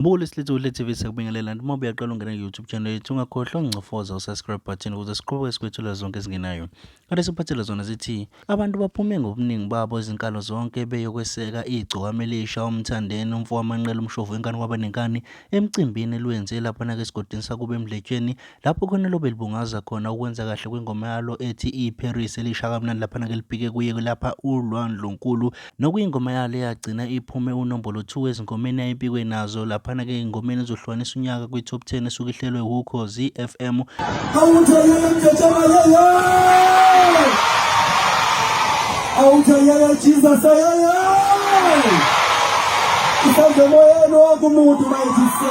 Mbulu isilithu kuhle TV sekubingelela noma uyaqala ungena ku-YouTube channel yethu ungakhohlwa ungicofoza usubscribe button ukuze siqhubeke sikwethula zonke ezingenayo. Kade siphathele zona zithi abantu baphume ngobuningi babo izinkalo zonke beyokweseka igcokama elisha umthandeni umfo wamanqela umshovu enkani kwabanenkani emcimbini elwenze lapha nake esigodini sakuba emdletsheni Lapho khona lo belibungaza khona ukwenza kahle kwengoma yalo ethi iParis elisha kamnandi laphana ke libheke kuye lapha uLwandlunkulu nokuyingoma yalo eyagcina iphume unombolo 2 ezingomeni ayipikwe nazo laphana ke ingomeni ezohlukanisa unyaka kwi-top 10 esuke ihlelwe wukhozi FM awuthayela Jesus ayaya isandla moyeni wokumuntu mayithisa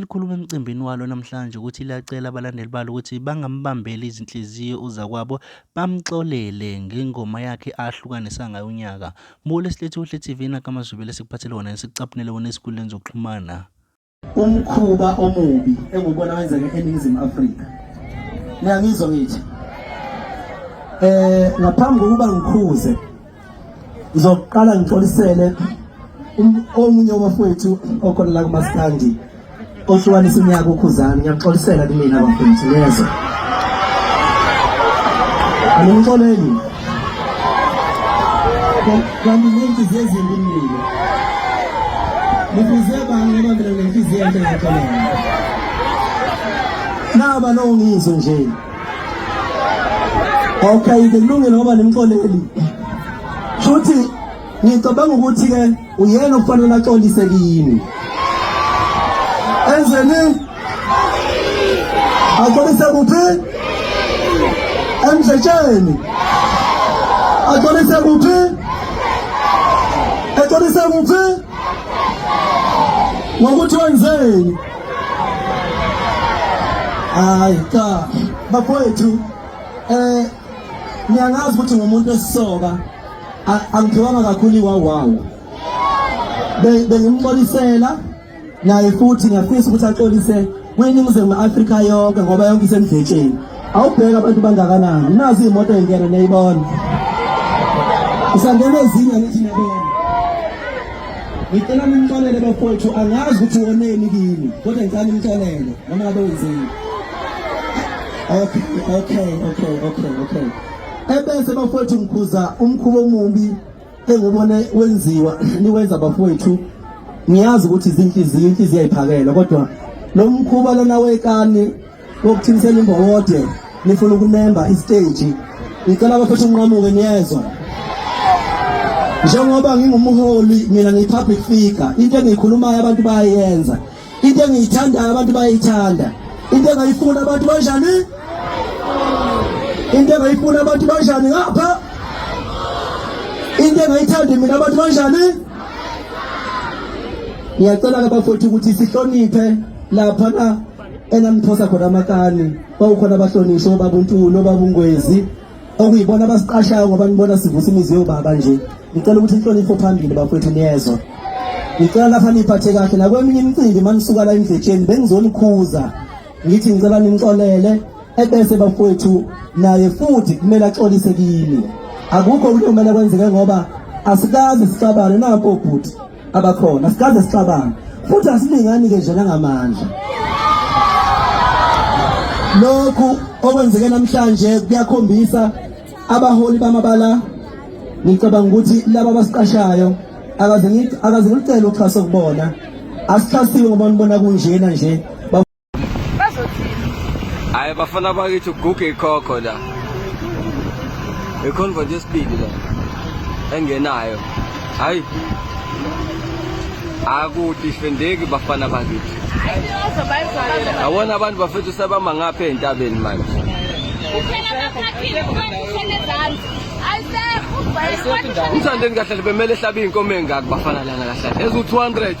Likhuluma emcimbini walo namhlanje ukuthi liyacela abalandeli balo ukuthi bangambambeli izinhliziyo uzakwabo bamxolele ngengoma yakhe ahlukanisa ngayo unyaka. Mbule silethi uhle TV nakama Zubile sikuphathele wona esikucaphunele wona esikuleni zokuxhumana. Umkhuba omubi engubona wenzeke eNingizimu Afrika. Niyangizwa ngithi? Eh ngaphambi kokuba ngikhuze Ngizoqala ngixolisele um-, omunye wabafowethu okhona la kuMaskandi ohlukanisa unyaka ukhuzani ngiyaxolisela kumina bafowethu neze animxoleli kanti nenhliziyo ezimbi mnile nifize bani ngoba mina nginenhliziyo enhle ngaxolela naba nongizwe nje Okay, ke kulungile ngoba nimxoleli. Futhi ngicabanga ukuthi ke uyena okufanele axolise kini. Enzeni? Axolise kuphi? Emdletsheni. Axolise kuphi? Axolise kuphi? Ngokuthi wenzeni? hayi cha bakwethu eh ngiyangazi ukuthi ngumuntu esisoka angithiwanga kakhulu iwawawo bengimxolisela naye futhi ngiyafisa ukuthi axolise kwiningizimu afrika yonke ngoba yonke isemdletsheni awubheke abantu bangakanani nazi iy'moto engena niyayibona usangena ezinye ngithi niyabona Ngicela nimxolele bafowethu angazi ukuthi woneni kimi kodwa ngicela nimxolele noma ngabe wenzeni. Okay, okay, okay, okay, okay. Ebese bafowethu ngikhuza umkhubo omubi engubone wenziwa niwenza bafowethu ngiyazi ukuthi izinhliziyo inhliziyo ayiphakela kodwa lo mkhuba lona wekani Ngokuthimisela imbowode nifuna ukunemba isiteji. Ngicela abaphethe unqamuke niyezwa. Njengoba ngingumholi mina ngiyi-public figure, into engiyikhulumayo abantu bayayenza. Into engiyithandayo abantu bayayithanda. Into engayifuni abantu banjani? Into engayifuni abantu banjani ngapha? Into engayithandi mina abantu banjani? Ngiyacela-ke bafowethu ukuthi sihloniphe lapha na enaniphosa khona amakani kwawukhona abahlonishwa obaba untulu obaba ungwezi okuyibona abasiqashayo ngoba nibona sivusa imizi yobaba nje ngicela ukuthi inhlonipho phambili bafowethu niyezwa ngicela lapha niphathe kahle nakweminye imicimbi manisuka la endletsheni bengizoniphuza ngithi ngicela nimxolele ebese bafowethu naye futhi kumele axolise kimi akukho ukumele kwenzeke ngoba asikazi sixabane napo bhuti abakhona sikaze sicabanga futhi asilingani-ke nje nangamandla lokhu okwenzeke namhlanje kuyakhombisa abaholi bamabala ngicabanga ukuthi laba abasiqashayo akaze ngicele uxhaso kubona asixhasiwe ngoba nibona kunjena nje bazothini hayi bafana bakithi uguge ikhokho la iconvert yesibili la engenayo hayi akudifendeki bafana bakithi awona abantu bafethu sebama ngapha entabeni manje umthandeni kahle bemele ehlabe iy'nkomo engaki bafana lana kahle ezu-200